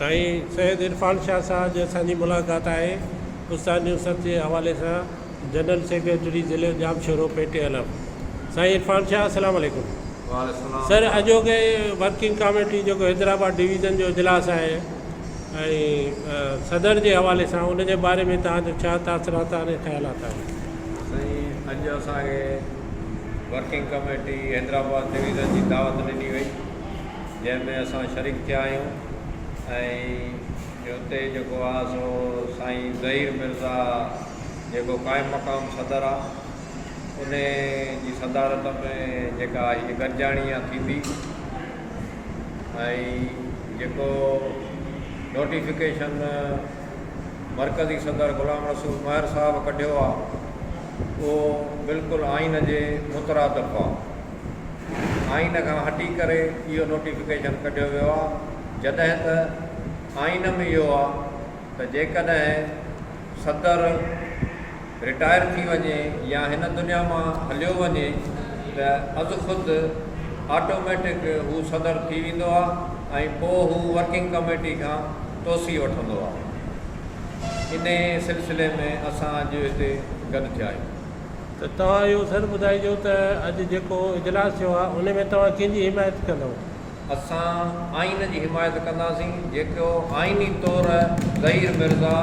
سائين سيد عرفان شاهه سان اڄ اسان جي ملاقات آهي. استاد نوسرت جي حوالي سان جنرل سيڪريٽري ضلعي ڄامشورو پي ٽي علم سائين عرفان شاهه اسلام عليڪم سر اڄوڪي ورڪنگ ڪاميٽي جيڪو حيدرآباد ڊويزن جو اجلاس آهي ۽ صدر جي حوالي سان ان جي باري ۾ توهان جو ڇا تاثرات آهن ۽ خيالات آهن سائين اڄ اسان کي ورڪنگ ڪاميٽي حيدرآباد ڊويزن جي دعوت ڏني وئي جنهن ۾ اسان شريڪ ٿيا آهيون ۽ اتي جيڪو آ سو سائين ظهير مرزا جيڪو قائم مقام صدر آ ان جي صدارت ۾ جيڪا هي گڏجاڻي آ ٿيندي ۽ جيڪو نوٽيفڪيشن مرڪزي صدر غلام رسول مهر صاحب ڪڍيو آ اهو بلڪل آئين جي مترادف آ. آئين کان هٽي ڪري اهو نوٽيفڪيشن ڪڍيو ويو آهي جڏهن ته آئين ۾ اهو آهي ته جيڪڏهن صدر رٽائر ٿي وڃي يا هن دنيا مان هليو وڃي ته از خود آٽوميٽڪ هو صدر ٿي ويندو آهي ۽ پوء هو ورڪنگ ڪميٽي کان توسيع وٺندو آهي. انهيء سلسلي ۾ اسان اڄ هتي گڏ ٿيا آهيون. ته توهان اهو ضر ٻڌائجو ته اڄ جيڪو اجلاس ٿيو آهي ان ۾ توهان ڪنهن جي حمايت ڪندؤ؟ اسان آئين جي حمايت ڪنداسين جيڪو آئيني طور ظهير مرزا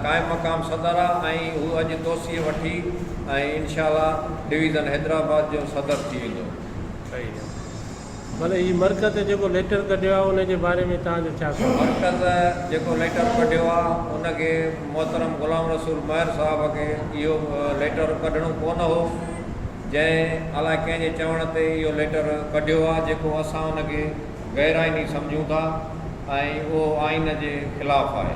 قائم مقام صدر آهي ۽ هو اڄ توسيع وٺي ۽ انشاء الله ڊويزن حيدرآباد جو صدر ٿي ويندو. ڀلي هي مرڪز جيڪو ليٽر ڪڍيو آهي ان جي باري ۾ توهان جو ڇا خيال. مرڪز جيڪو ليٽر ڪڍيو آ ان کي محترم غلام رسول مهر صاحب کي اهو ليٽر ڪڍڻو ڪونه هو جنهن الاء ڪنهن جي چوڻ تي اهو ليٽر ڪڍيو آ جيڪو اسان ان کي غير آئيني سمجهون ٿا ۽ اهو آئين جي خلاف آهي.